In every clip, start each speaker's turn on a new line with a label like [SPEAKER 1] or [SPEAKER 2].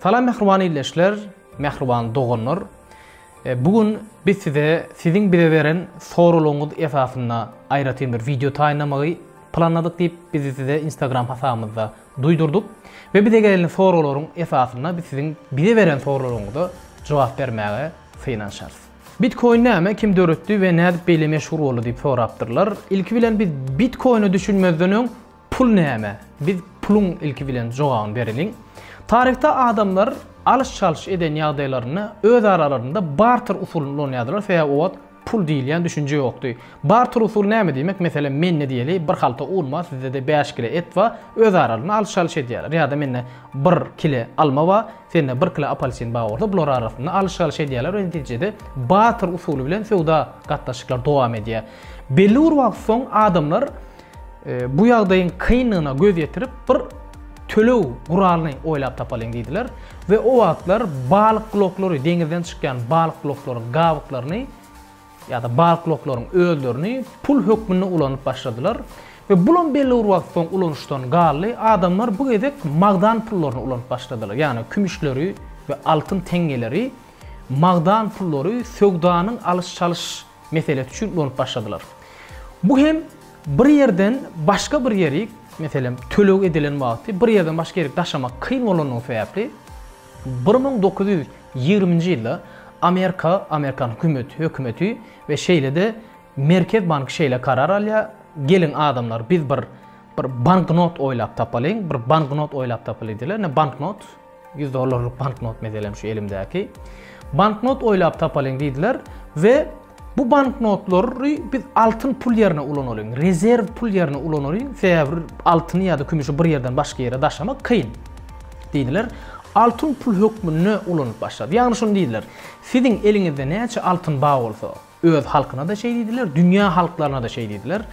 [SPEAKER 1] Salam mähriban ildeşler, mähriban doganlar. E, bu gün biz size siziň bize beren soraglaryňyz esasynda aýratyn bir wideo taýynlamagy planladyk diýip biz size Instagram hasabymyzda duýdurdyk we bize gelen soraglaryň esasynda biz siziň bize beren soraglaryňyza jogap bermäge synanyşarys. Bitkoin näme, kim döretdi we nädip beýle meşhur boldy diýip sorapdyrlar. Ilki bilen biz bitkoine düşünmezden öň pul näme? Biz puluň ilki bilen jogabyny bereliň. Taryhda adamlar alyş-çalyş eden ýagdaýlarynda öz aralarynda barter usulyny ulanýardylar, sebäbi o wagt pul diýilýän düşünje ýokdy. Barter usuly näme diýmek? Meselem, mende diýeli bir halta un bar, sizde-de bäş kile et bar, öz aralarynda alyş-çalyş edýärler. Ýa-da mende bir kile alma bar, Sende bir kilo apalsin bar bolsa, bular arasynda alyş-çalyş edýärler we netijede barter usuly bilen söwda gatnaşyklar dowam edýär. Belli bir wagt soň adamlar e, bu ýagdaýyň kynlygyna göz ýetirip bir töleg guralyny oýlap tapalyň diýdiler we o wagtlar balyk gloklary, deňizden çykýan balyk gloklary gabyklaryny ýa-da balkloklaryň özlerini pul hökmünde ulanyp başladylar we bulam belli bir wagt soň ulanyşdan galdy, adamlar bu gezek magdan pullaryny ulanyp başladylar, ýagny kümüşleri we altyn teňňeleri magdan pullary söwdanyň alyş-çalyş meselesi üçin ulanyp başladylar. Bu hem bir ýerden başga bir ýerik, meselem, töleg edilen wagty bir ýerden başga ýerik daşamak kyn bolandygy sebäpli, Bir müň dokuz ýüz ýigriminji ýylda Amerika, Amerikan hükümeti, hökümeti we şeýle-de Merkez banky şeýle karar alýar, Geliň adamlar, biz bir bir banknot oýlap tapalyň, bir banknot oýlap tapaly diýler. Ine banknot, ýüz dollarlyk banknot meselem şu elimdäki. Banknot oýlap tapalyň diýdiler we Bu banknotlary biz altyn pul ýerine ulanalyň, rezerw pul ýerine ulanalyň, sebäbi altyny ýa-da kümüşi bir ýerden başga ýere daşamak kyn. Diýdiler. Altyn pul hökmünde ulanyp başlady. Ýagny şuny diýdiler, siziň eliňizde näçe altyn bar bolsa, öz halkyna-da şeý diýdiler, dünýä halklaryna-da şeý diýdiler,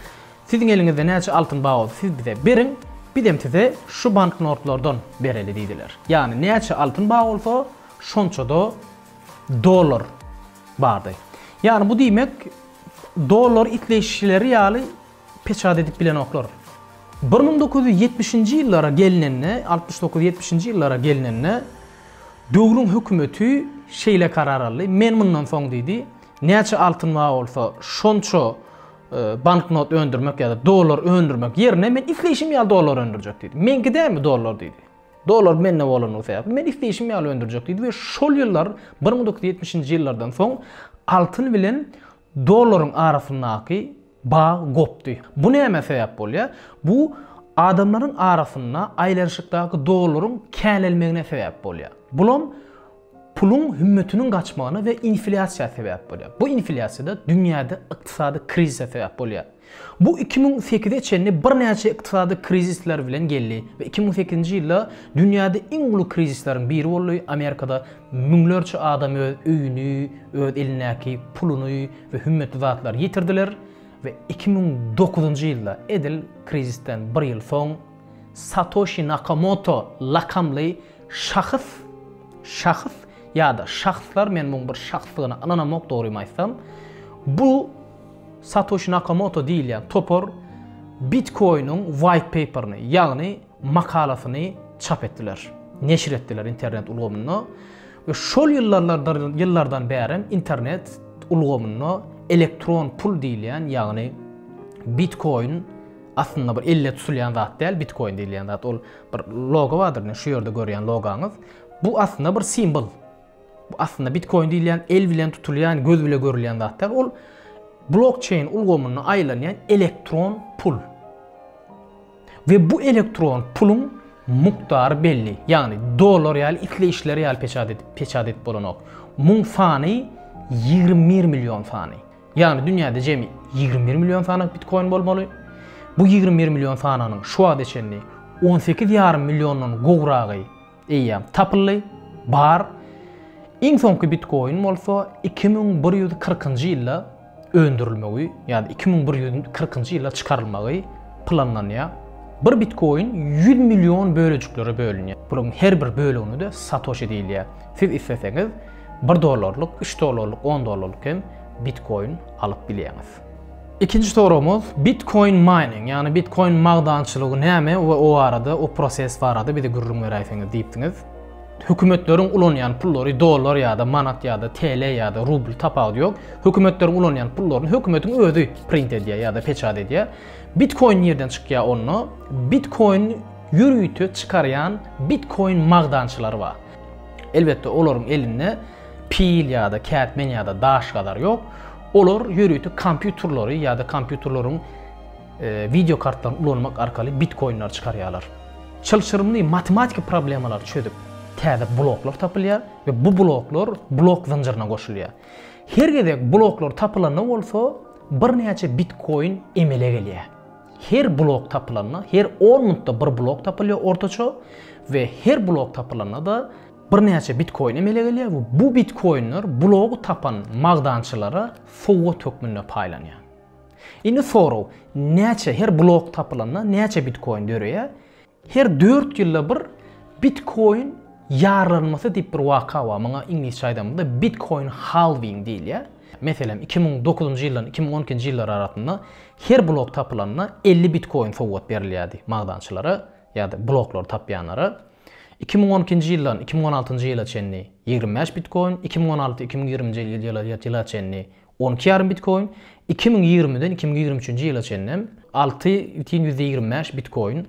[SPEAKER 1] siziň eliňizde näçe altyn bar bolsa, siz bize beriň, bizem size şu banknotlardan bereli diýdiler. Ýagny näçe altyn bar bolsa, şonça-da dollar. Bardy. Ýagny bu diýmek, dollary isleýşleri ýaly peçat edip bilenoklar. Bir müň dokuz ýüz ýetmişinji ýyllara gelnende, altmyş dokuz ýetmişinji ýyllara gelnende, döwrüň hökümeti şeýle karar aldy, men mundan soň diýdi, näçe altyn bar bolsa, şonça banknot öndürmek ýa-da dollar öndürmek ýerine, men isleýşim ýaly dollar öndürjek diýdi. Meňki dälmi dollar diýdi. Dollar mende bolandygy sebäpli men isleýşim ýaly öndürjek diýdi we şol ýyllar bir müň dokuz ýüz ýetmişinji ýyllardan soň altyn bilen dollaryň arasyndaky bag gopdy. Bu nämä sebäp bolýar? Bu adamlaryň arasynda aýlanyşykdaky dollaryň känelmegine sebäp bolýar. Bulam Puluň hümmetiniň gaçmagyna we inflýasiýa sebäp bolýar. Bu inflýasiýa-da dünýäde ykdysady krizise sebäp bolýar. Bu iki müň sekize çenli birnäçe ykdysady krizisler bilen geldi we iki müň sekizinji ýylda dünýäde iň uly krizisleriň biri boldy, Amerikada müňlerçe adam öz öýüni, öz elindäki puluny we hümmetli zatlary ýitirdiler we iki müň dokuzynjy ýylda, edil krizisden bir ýyl soň, Satoşi Nakamoto lakamly Şahys, şahys ýa-da şahslar, men muň bir şahsdygyna ynanamok dogrymy aýtsam, bu Satoşi Nakamoto diýilýän topar Bitkoiniň white paper-ni, ýagny makalasyny çap etdiler, neşir etdiler internet ulgamynda we şol ýyllarlardyr ýyllardan bärem internet ulgamynda elektron pul diýilýän, ýagny Bitkoin aslynda bir elle tutulýan zat däl, Bitkoin diýilýän zat ol Bir logo bardyr indi şu ýerde görýän logaňyz. Bu aslynda bir simwol. Bu aslynda Bitcoin diýilýän el bilen tutulýan, göz bilen görülýän zat däl. Ol blokçeýn ulgamynda aýlanýan elektron pul. We bu elektron puluň mukdary belli. Ýagny dollar ýaly isle işler ýaly peçat edip peçat edip bolanok. Muň sany 21 million sany. Ýagny dünýäde jemi ýigrimi bir million sanaw bitkoin bolmaly. Bu ýigrimi bir million sanawnyň şu wagta çenli on sekiz ýarym milliondan gowragy eýýäm tapyldy, bar. Iň soňky bitkoin bolsa iki müň bir ýüz kyrkynjy ýylda öndürilmegi ýa-da iki müň bir ýüz kyrkynjy ýylda çykarylmagy planlanýar. Bir bitkoin ýüz million bölejiklere bölünýär. Bularyň her bir bölegine-de satoşi diýilýär. Siz isleseňiz, Bir dollarlyk, üç dollarlyk, on dollarlyk hem bitkoin alyp bilýäňiz. Ikinji soragymyz, Bitkoin mining, ýagny bitkoin magdançylygy näme we o barada, o proses barada bize gürrüň beräýseňiz diýipsiňiz. Hökümetleriň ulanýan pullary dollar ýa-da manat ýa-da TL ýa-da rubl tapawudy ýok. Hökümetleriň ulanýan pullaryny hökümetiň özi print edýär ýa-da peçat edýär. Bitkoin nirden çykýar onda? Bitkoin ýörite çykarýan bitkoin magdançylary bar. Elbetde olaryň elinde pil ýa-da kätmen ýa-da daş gazar ýok. Olar ýörite kompýuterleri ýa-da kompýuterleriň e, wideo kartlaryny ulanmak arkaly bitkoinler çykarýarlar. Çylşyrymly matematiki problemalary çözüp täze bloklar tapylýar we bu bloklar blok zynjyryna goşulýar. Her gezek bloklar tapylanda bolsa birnäçe bitkoin emele gelýär. Her blok tapylanda, her on minutda bir blok tapylýar ortaça we her blok tapylanda-da birnäçe bitkoin emele gelýär we bu bitkoinler blogy tapan magdançylara sowgat hökmünde paýlanýar. Indi sorag, näçe, her blok tapylanda näçe bitkoin döreýär? Her dört ýylda bir Bitkoin ýarlanmasy diýip bir waka bar. Muňa iňlisçe aýdamyzda Bitkoin Halving diýilýär. Meselem, iki müň dokuzynjy ýyldan iki müň on ikinji ýyllar arasynda her blok tapylanda elli Bitkoin sowgat berilýärdi magdançylara ýa-da bloklary tapýanlara. Iki müň on ikinji ýyldan iki müň on altynjy ýyla çenli ýigrimi bäş Bitkoin, iki müň on alty iki müň ýigrimi nji ýyla çenli On iki ýarym bitkoin iki müň ýigrimiden iki müň ýigrimi üçünji ýyla çenli alty bütin ýüzde ýigrimi bäş bitkoin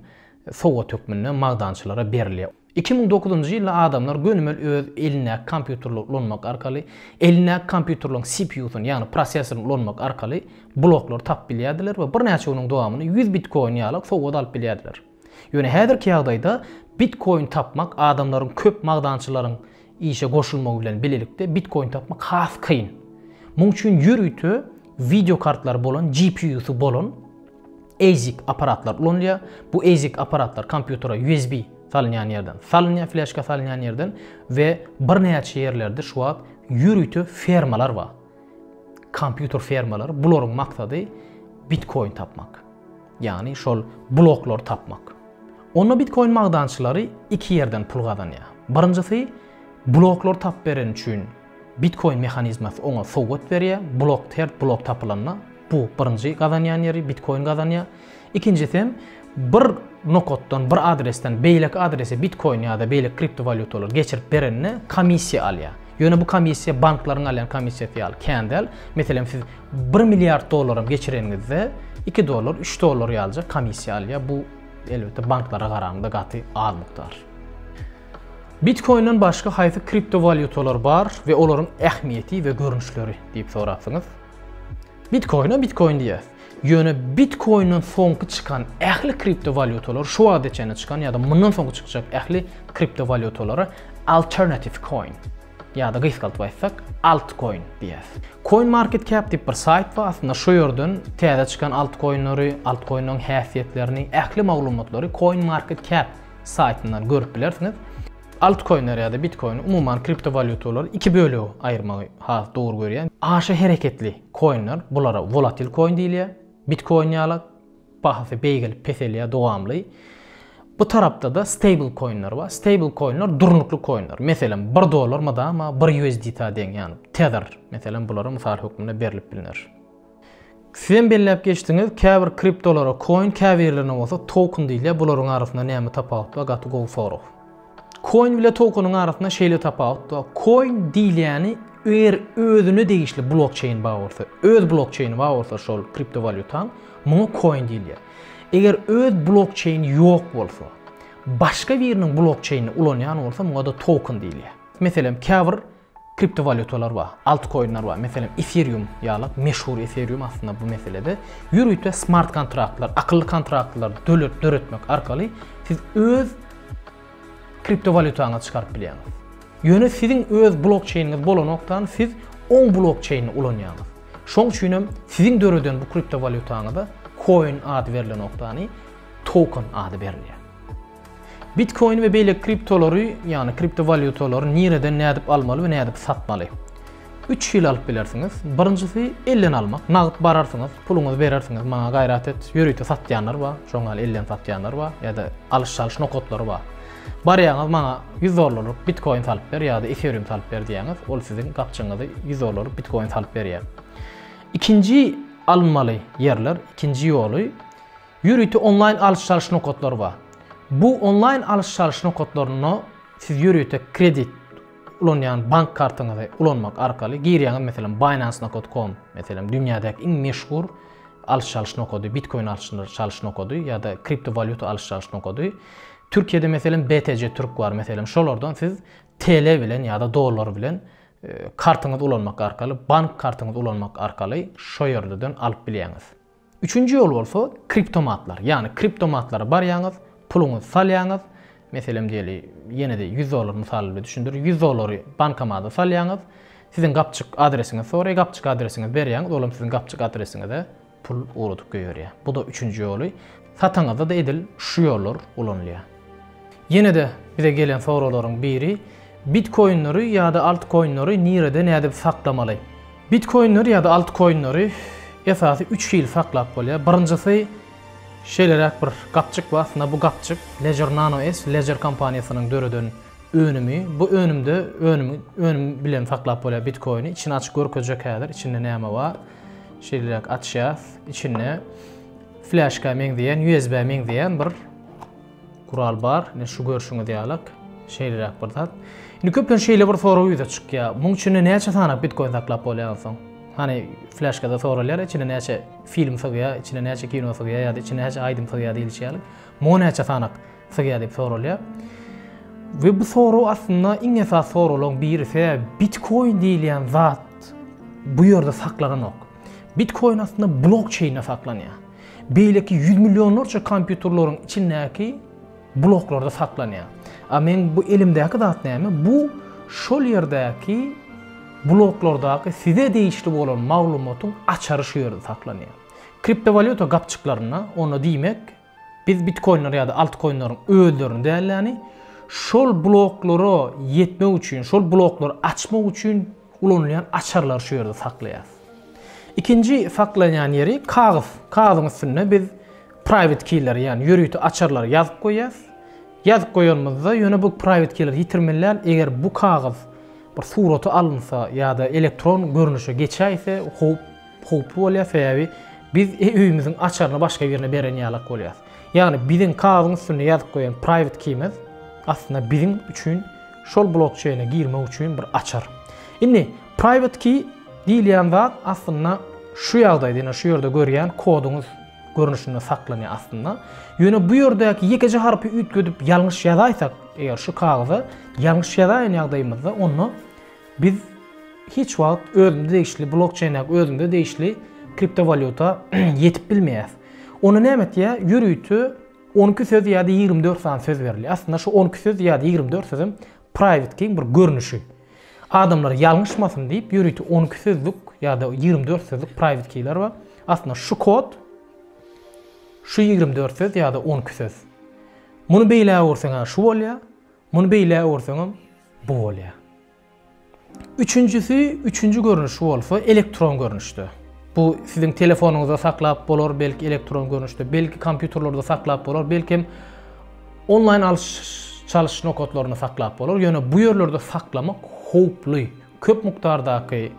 [SPEAKER 1] sowgat hökmünde magdançylara berilýär. Iki müň dokuzynjy ýylda adamlar gönümel öz elindäki kompýuterleri ulanmak arkaly, elindäki kompýuterleriň CPU-syny, ýagny prosesoryny ulanmak arkaly bloklary tapyp bilýärdiler we birnäçe günüň dowamynda ýüz bitkoin ýaly sowgat alyp bilýärdiler. Ýöne häzirki ýagdaýda bitkoin tapmak adamlaryň köp magdançylaryň işe goşulmagy bilen bilelikde bitkoin tapmak has kyn. Muň üçin ýörite wideo kartlary bolan GPU-sy bolan ASIC apparatlar ulanylýar. Bu ASIC apparatlar kompýutere USB salynýan ýerden salynýar, fleşka salynýan ýerden we birnäçe ýerlerde şu wagt ýörite fermalar bar. Kompýuter fermalary bularyň maksady bitkoin tapmak. Ýagny şol bloklary tapmak. Onda bitkoin magdançylary iki ýerden pul gazanýar. Birinjisi bloklary tapyp bereni üçin bitkoin mehanizmasy oňa sowgat berýär. Blok her blok tapylanda bu birinji gazanýan ýeri bitkoin gazanýar. Ikinjisi hem bir nokatdan bir adresden beýleki adrese bitkoin ýa-da beýleki kriptowalýutalary geçirip berende komissiýa alýar. Ýöne bu komissiýa banklaryň alýan komissiýasy ýaly kän däl. Meselem siz 1 milliard dollaram geçireniňizde 2 dollar, 3 dollar ýalyja komissiýa alýar. Bu elbetde banklara garanda gaty az mukdar. Bitcoin'den başga haýsy kriptowalýutalar bar we olaryň ähmiýeti we görnüşleri diýip sorapsyňyz. Bitcoin-a Bitcoin diýýär. Ýöne Bitcoin-den soňky çykan ähli kriptowalýutalar şu wagtda çenli çykan ýa-da mundan soňky çykjak ähli kriptowalýutalara alternative coin Ýa-da gysgaldyp aýtsak, altcoin diýýäs. CoinMarketCap diýip bir saýt bar, aslynda şu ýerden täze çykan altcoinleri, altcoinleriň häsiýetlerini, ähli maglumatlary CoinMarketCap saýtyndan görüp bilersiňiz. Altcoinleri ýa-da bitcoini, umuman kriptowalýutalary iki bölege aýyrmagy has dogry görýän. Aşa hereketli koinler, bulara volatil koin diýilýär, bitkoin ýalak. Bahasy beýgelip peselýär dowamly. Bu tarapda-da stable koinler bar. Stable koinler durnukly koinler. Meselem, bir dollar mydama bir USDT-a deň, ýagny Tether, meselem, bulara mysal hökmünde berlip bilner. Sizem belläp geçdiňiz, käbir kriptolara koin, käbirlerine bolsa token diýilýär. Bularyň arasynda näme tapawut bar? Gaty gowy sorag. Coin bile tokeniň arasynda şeýle tapawut bar. Coin diýilýäni eger özüne degişli blokçeýn bar bolsa, öz blokçeýni bar bolsa şol kriptowalýutaň, muňa coin diýilýär. Eger öz blokçeýni ýok bolsa, başga biriniň blokçeýnini ulanýan bolsa, muňa-da token diýilýär. Meselem, käbir Kriptowalýutalar bar, altkoinler bar. Meselem, Ethereum ýaly, meşhur Ethereum aslynda bu meselede ýörite smart kontraktlar, akylly kontraktlar döretmek arkaly siz öz kriptowalýutaňyzy çykaryp bilýäňiz. Ýöne siziň öz blokçeýniňiz bolanokdan siz oň blokçeýnini ulanýaňyz. Şoň üçin hem siziň döreden bu kriptowalýutaňyza koin ady berlenokdany token ady berilýär. Bitcoin we beýleki kriptolary, ýagny kriptowalýutalary nireden nädip almaly we nädip satmaly? Üç hili alyp bilersiňiz. Birinjisi elden almak. Nagt bararsyňyz, puluňyzy berersiňiz, maňa gaýrat et. Ýörite satýanlar bar, şoň ýaly elden satýanlar bar ýa-da alyş-çalyş nokatlary bar. Barýaňyz, maňa 100 dollarlyk bitcoin salyp ber ýa-da ethereum salyp ber diýýäňiz, ol siziň gapjygyňyzy 100 dollarlyk bitcoin salyp berýär. Ikinji alynmaly ýerler, ikinji ýoly Ýörite onlaýn alyş-çalyş nokatlary bar. Bu onlaýn alyş-çalyş nokatlarynda siz ýörite kredit ulanýan bank kartyňyzy ulanmak arkaly girýäňiz, meselem, Binance nokat com, meselem, dünýädäki iň meşhur alyş-çalyş nokady, bitkoin alyş-çalyş nokady ýa-da kriptowalýuta alyş-çalyş nokady. Türkiýede, meselem, BTC Türk bar, meselem, şolardan siz TL bilen ýa-da dollar bilen kartyňyzy ulanmak arkaly, bank kartyňyzy ulanmak arkaly şo ýerlerden alyp bilýäňiz. Üçünji ýol bolsa kriptomatlar. Ýagny kriptomatlara barýaňyz, puluňyzy salýaňyz, meselem diýeli, ýene-de ýüz dollar mysaly bilen düşündirin, ýüz dollary bankomada salýaňyz, siziň gapjyk adresiňizi soraýar, gapjyk adresiňizi berýäňiz, olam siziň gapjyk adresiňize pul ugradyp goýberýär. Bu-da üçünji ýoly. Sataňyzda-da edil şu ýollar ulanylýar. Ýene-de bize gelen soraglaryň biri, Bitkoinleri ýa-da altkoinleri nirede nädip saklamaly? Bitkoinleri ýa-da altkoinleri esasy üç hili saklap bolýar. Birinjisi şeýleräk bir gapjyk bar. Aslynda bu gapjyk Ledger Nano S, Ledger kompaniýasynyň döreden önümi. Bu önümde önümi önüm bilen saklap bolýar bitkoini. Içini açyp görkezjek häzir içinde näme bar. Şeýleräk açýas. Içinde fleşka meňzeýän, USB-a meňzeýän bir Gural bar, ine şu görşüňiz ýalak, şeýleräk bir zat. Indi köplenç şeýle bir sorag ýüze çykýar. Muň içinde näçe sany bitkoin saklap bolýar onsoň? Hany fleşkada soralýar, içine näçe film sygýar, içine näçe kino sygýar ýa-da içine näçe aýdym sygýar diýilişi ýaly. Muňa näçe sanak sygýar diýip soralýar. We bu sorag aslynda iň esas soraglaryň biri. Sebäbi bitkoin diýilýän zat bu ýerde saklananok. Bitkoin aslynda blokçeýnde saklanýar. Beýleki ýüz millionlarça kompýuterleriň içindäki bloklarda saklanýar. A meň bu elimdäki zat näme? Bu şol ýerdäki bloklardaky size degişli bolan maglumatyň açary şu ýerde saklanýar. Kriptowalýuta gapjyklarynda, onda diýmek, biz bitkoinleri ýa-da altkoinleriň özlerini däl-de, şol bloklara ýetmek üçin, şol bloklary açmak üçin Ulanylýan açarlary şu ýerde saklaýarys. Ikinji saklanýan ýeri kagyz. Kagyzyň üstünde biz private keyleri, ýagny ýörite açarlary ýazyp goýýas. Ýazyp goýanymyzda ýöne bu private keyleri ýitirmeliän, eger bu kagyz bir surata alynsa ýa-da elektron görnüşe geçäýse howp howply bolýar, sebäbi biz öýümiziň açaryny başga birine beren ýalak bolýas. Ýagny biziň kagyzyň üstünde ýazyp goýan private key-miz aslynda biziň üçin şol blokçeýne girmek üçin bir açar. Indi private key diýilýän zat aslynda şu ýagdaýda ýene şu ýerde görýän koduňyz görnüşinde saklanýar aslynda. Ýöne bu ýerdäki ýekeje harpy üýtgedip ýalňyş ýazaýsak, eger şu kagyza ýalňyş ýazaýan ýagdaýymyzda onda Biz hiç wagt özümize degişli blokçeýn ýa özümize degişli kriptowalýuta ýetip bilmeýäs. Ony näme etýär? Ýörite on iki söz ýa-da ýigrimi dört sany söz berilýär. Aslynda şu on iki söz ýa-da ýigrimi dört sözem private keyň bir görnüşi. Adamlar ýalňyşmasyn diýip ýörite on iki sözlük ýa-da ýigrimi dört sözlük private keyler bar. Aslynda şu kod şu ýigrimi dört söz ýa-da on iki söz. Muny beýlägurseň şu bolýar. Muny beýle öwürseňem bu bolýar. Üçünjisi, üçünji görnüşi bolsa elektron görnüşde. Bu siziň telefonyňyzda saklap bolar, belki elektron görnüşde, belki kompýuterlerde saklap bolar, belki hem onlaýn alyş çalyş nokatlarynda saklap bolar. Ýöne bu ýerlerde saklamak howply. Köp mukdardaky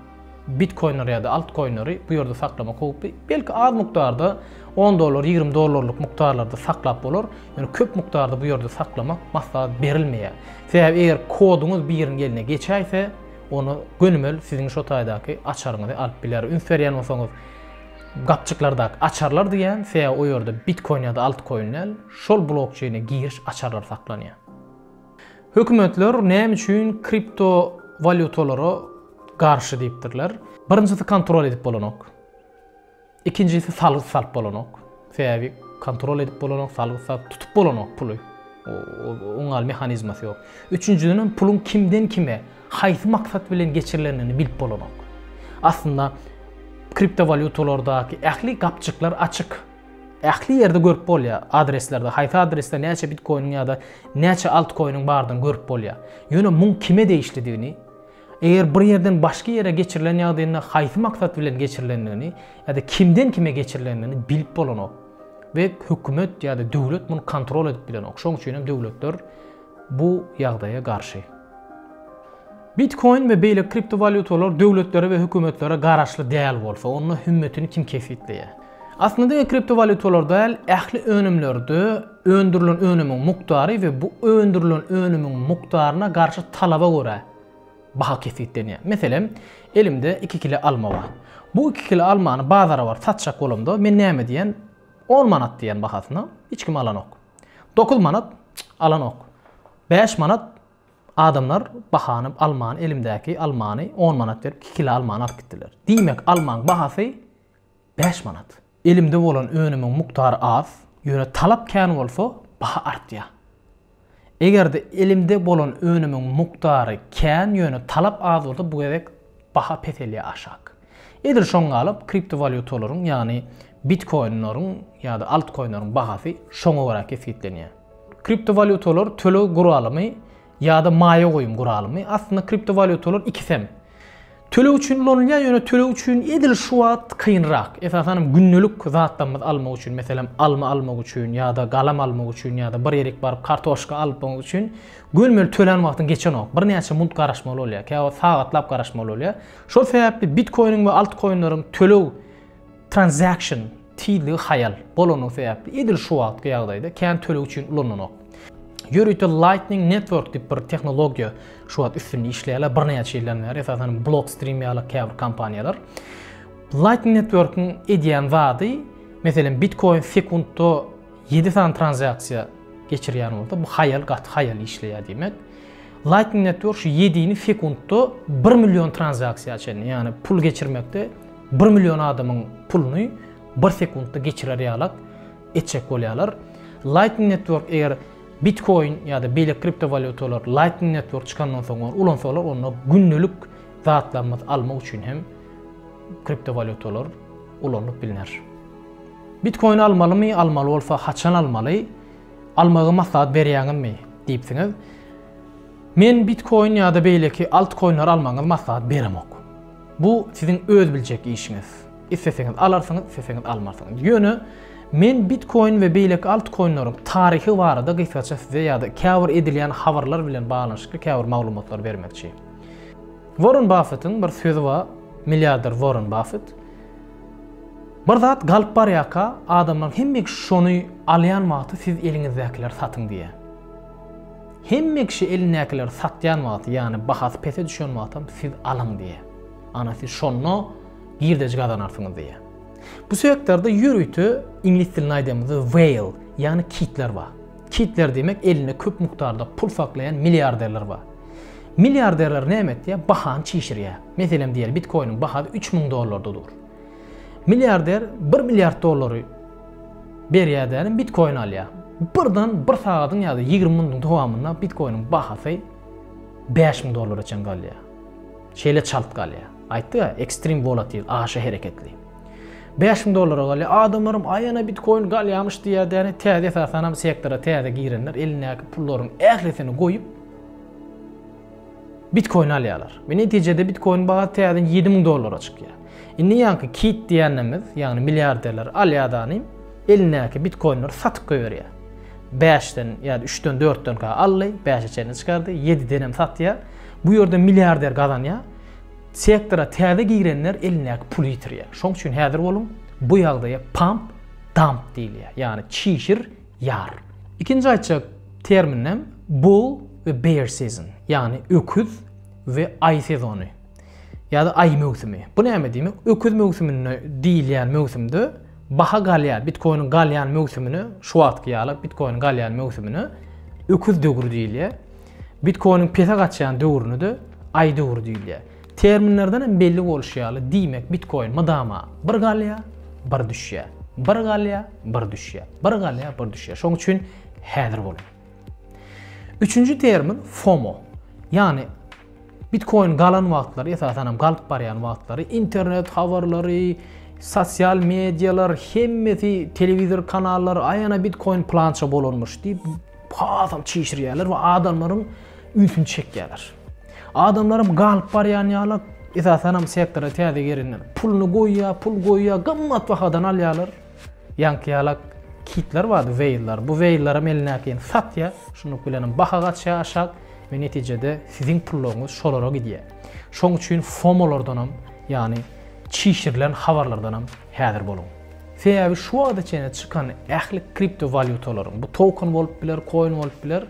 [SPEAKER 1] bitkoinleri ýa-da altkoinleri bu ýerde saklamak howply. Belki az mukdarda on dollar, ýigrimi dollarlyk mukdarlarda saklap bolar, ýöne köp mukdarda bu ýerde saklamak maslahat berilmeýär. Sebäbi eger koduňyz biriň eline geçäýse, ony gönümel siziň şo taýdaky açaryňyzy alyp biler. Üns berýän bolsaňyz, gapjyklardaky açarlar diýýän, sebäbi o ýerde bitkoin ýa-da altkoin däl, şol blokçeýne giriş açarlary saklanýar. Hökümetler näme üçin kripto walýutalara garşy diýipdirler? Birinjisi kontrol edip bolanok. Ikinjisi salgyt salyp bolanok. Sebäbi kontrol edip bolanok, salgyt salyp tutup bolanok puly. Oň al mehanizmasy ýok. Üçünjiden hem puluň kimden kime, haýsy maksat bilen geçirilendigini bilip bolanok. Aslynda kripto walýutalardaky ähli gapjyklar açyk. Ähli ýerde görüp bolýar adreslerde haýsy adresde näçe bitkoiniň ýa-da näçe altkoiniň bardygyny görüp bolýar. Ýöne muň kime degişlidigini, eger bir ýerden başga ýere geçirilen ýagdaýynda haýsy maksat bilen geçirilendigini ýa-da kimden kime geçirilendigini bilip bolanok. We hökümet ýa-da döwlet muny kontrol edip bilenok. Şoň üçin hem döwletler bu ýagdaýa garşy. Bitkoin we beýleki kriptowalýutalar döwletlere we hökümetlere garaşly däl bolsa, onda hümmetini kim kesgitleýär? Aslynda diňe kriptowalýutalarda däl, ähli önümlerde öndürilen önümiň mukdary we bu öndürilen önümiň mukdaryna garşy talaba görä baha kesgitlenýär. Meselem, elimde iki kile alma bar. Bu iki kile almany bazara baryp satjak bolamda, men näme diýen? On manat diýen bahasyna, hiç kim alanok. Dokuz manat, alanok. Bäş manat, adamlar bahany, almany, elimdäki almany on manat berip iki kile almany alyp gitdiler. Diýmek, almaň bahasy Bäş manat. Elimde bolan önümiň mukdary az, ýöne talap kän bolsa, baha artýar. Eger-de elimde bolan önümiň mukdary kän, ýöne talap az bolsa, bu gezek baha peselýär, aşak. Edil şoňa galyp, kriptowalýutalaryň, ýagny bitkoinleriň ýa-da altkoinleriň bahasy şoňa görä kesgitlenýär. Kriptowalýutalar töleg guralymy. ýa-da maýa goýum guralymy. Aslynda kriptowalýutalar ikisi hem töleg üçin ulanylýar, ýöne töleg üçin edil şu wagt kynrak. Esasan hem gündelik zatlarymyzy almak üçin, meselem, alma almak üçin ýa-da galam almak üçin ýa-da bir ýerik baryp kartoşka alyp almak üçin görmeli tölän wagtyň geçenok. Birnäçe munt garaşmaly bolýar, käwagt sagatlap garaşmaly bolýar. Şol sebäpli bitkoiniň we altkoinleriň töleg transaction Tizligi haýal bolanyny sebäpli edil şu wagtky ýagdaýda kän töleg üçin ulananok. Ýörite Lightning Network diýip bir tehnologiýa şu wagt üstünde işleýärler birnäçe ýyldan bäri esasan Blockstream ýaly käbir kompaniýalar. Lightning Network-iň edýän zady meselem Bitcoin sekuntda ýedi sany tranzaksiýa geçirýän bolsa bu haýal gaty haýal işleýär diýmek. Lightning Network şu ýedini sekuntda bir million tranzaksiýa çenli ýagny pul geçirmekde Bir million adamyň puluny bir sekuntda geçirer ýalak etjek bolýarlar. Lightning Network eger Bitcoin ýa-da beýleki kriptowalýutalar Lightning Network çykandan soň ulansalar, onda gündelik zatlarymyzy almak üçin hem kriptowalýutalar ulanylyp bilner. Bitcoin almalymy, almaly bolsa haçan almaly? Almagy maslahat berýäňizmi? diýipsiňiz. Men Bitcoin ýa-da beýleki altcoinler almagyňyzy maslahat beremok. Bu siziň öz biljek işiňiz. Isleseňiz alarsyňyz, isleseňiz almarsyňyz. Ýöne men Bitcoin we beýleki altcoinleriň taryhy barada gysgaça size ýa-da käbir edilýän habarlar bilen baglanyşykly käbir maglumatlary bermekçi. Warren Baffetiň bir sözi bar, milliarder Warren Baffet. Bir zat galyp barýarka, adamlar hemme şony alýan wagty siz eliňizdäkileri satyň diýýär. Hemme kişi elindäkileri satýan wagty, ýagny bahasy pese düşen wagtam siz alyň diýýär. Ana siz şonda girdeji gazanarsyňyz diýýär. Bu sektorda ýörite iňlis dilinde aýdamyzda whale, ýagny kitler bar. Kitler diýmek elinde köp mukdarda pul saklaýan milliarderler bar. Milliarderler näme etýär? Bahany çişirýär. Meselem diýeli bitkoiniň bahasy 3000 dollarda dur. Milliarder 1 milliard dollary Berýär dädem bitkoin alýar. Birden bir sagadyň ýa-da ýigrimi minutyň dowamynda bitkoiniň bahasy bäş müň dollara çen galýar. Şeýle çalt galýar. Aýtdy-a, ekstrem volatil, aşa hereketli. Bäş müň dollara galýar. Adamlaram aýana bitkoin galýarmyş diýýär däne. Täze esasanam sektora täze girenler elindäki pullaryň ählisini goýup, Bitkoin alýarlar we netijede bitkoin bahasy täzeden ýedi müň dollara çykýar. Indi ýaňky Kit diýýänimiz, ýagny milliarderler alýadanym elindäki bitkoinleri satyp goýberýär. Bäşden ýa-da üçden, dörtdenkä aldy, bäşe çenli çykardy, ýedidenem satýar. Bu ýerde milliarder gazanýar. Sektora täze girenler elindäki puly ýitirýär. Şoň üçin häzir boluň, bu ýagdaýa pump, dump diýilýär. Ýagny çişir, Ýar. Ikinji aýtjak terminim bull we bear season, ýagny öküz we aý sezony ýa-da aý möwsümi. Bu näme diýmek? Öküz möwsüminde diýilýän möwsümde baha galýar, bitkoiniň galýan möwsümine, şu wagtky ýaly bitkoiniň galýan möwsümine öküz döwri diýilýär. Bitkoiniň pese gaçýan döwrüne-de aý döwri diýilýär. Terminlerden hem belli bolşy ýaly, diýmek bitkoin mydama bir galýar, bir düşýär, bir galýar, bir düşýär, bir galýar, bir düşýär. Şoň üçin häzir boluň. Üçünji termin FOMO. Ýagny bitkoin galan wagtlary, esasan hem galyp barýan wagtlary internet habarlary, sosial medialar, hemmesi telewizor kanallary aýana bitkoin plança bolanmyş diýip hasam çişirýärler we adamlaryň ünsüni çekýärler. Adamlaram galyp barýan ýaly, esasanam sektora täze gelenler. Puluny goýýar, pul goýýar, gymmat bahadan alýarlar. Ýaňky ýalak kitler bardy, weýllar. Bu weýllaram elindäkini satýar. Şunluk bilenem baha gaçýar aşak we netijede siziň pullaryňyz şolara gidýär. Şoň üçin FOMO-lardanam, ýagny çişirilen habarlardanam häzir boluň. Sebäbi şu wagta çenli çykan ähli kriptowalýutalaryň, bu token bolup biler, koin bolup biler,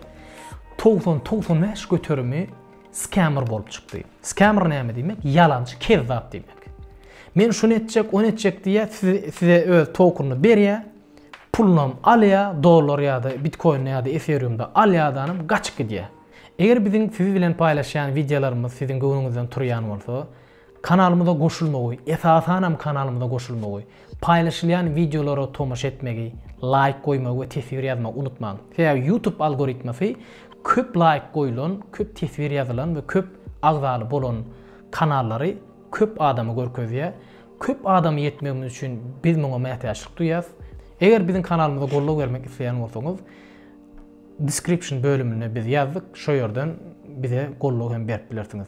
[SPEAKER 1] Togsan togsan bäş göterimi skämer bolup çykdy. Skämer näme diýmek? Ýalançy, kezzap diýmek. Men şuny etjek, ony etjek diýýär, size öz tokenyny berýär, pulunam alýar, dollar ýa-da bitkoinde ýa-da eferiumda alýardanam gaçyp gidýär. Eger biziň siz bilen paýlaşýan wideolarymyz siziň göwnüňizden turýan bolsa, Kanalymyza goşulmagy, esasanam kanalymyza goşulmagy, paýlaşylýan wideolara tomaşa etmegi, laýk goýmagy we teswir ýazmagy unutmaň. Sebäbi YouTube algoritmasy köp laýk goýulan, köp teswir ýazylan we köp agzaly bolan kanallary köp adama görkezýär. Köp adama ýetmegimiz üçin biz muňa mätäçlik duýýas. Eger biziň kanalymyza goldaw bermek isleýän bolsaňyz description bölümine biz ýazdyk, şo ýerden bize goldaw hem berip bilersiňiz.